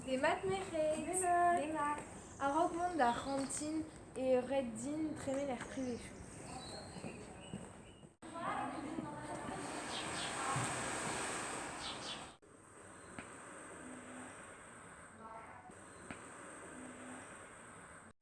Demat merc'hed Demat A-raok mont d'ar c'hantin e ret din tremen er privechou.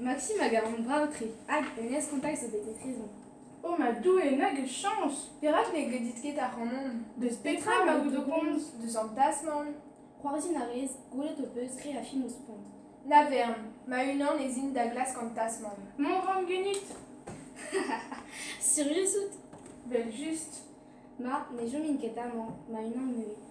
Maxime a garan brav-tre, hag hennezh kontakt zo bet etrezomp. O ma Doue, nag eus chañs! Perak ne gredit ket ac'hanon? Deus petra emaout o komz? Deus an plas-man? C'hoarzhin a rez, gwelet ho peus re a fin ho spont. Na vern, ma-unan ez in da glask an tas-man. Mont 'ran ganit. Sirius out? Vel-just. Ma, ne chomin ket amañ, ma-unan neuze.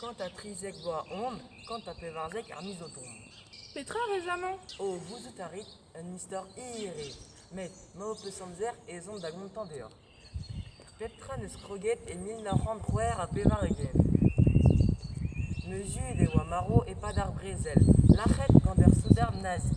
Kant ha trizek vloaz on, kant ha pevarzek ar miz o tont. Petra 'rez amañ? O, gouzout a rit, un istor hir eo, met ma ho peus amzer ez on da gontañ deoc'h. Pep tra 'neus kroget e mil nav c'hant c'hwec'h ha pevar-ugent. Meuzet e oa marv e-pad ar brezel, lac'het gant ur soudard nazi.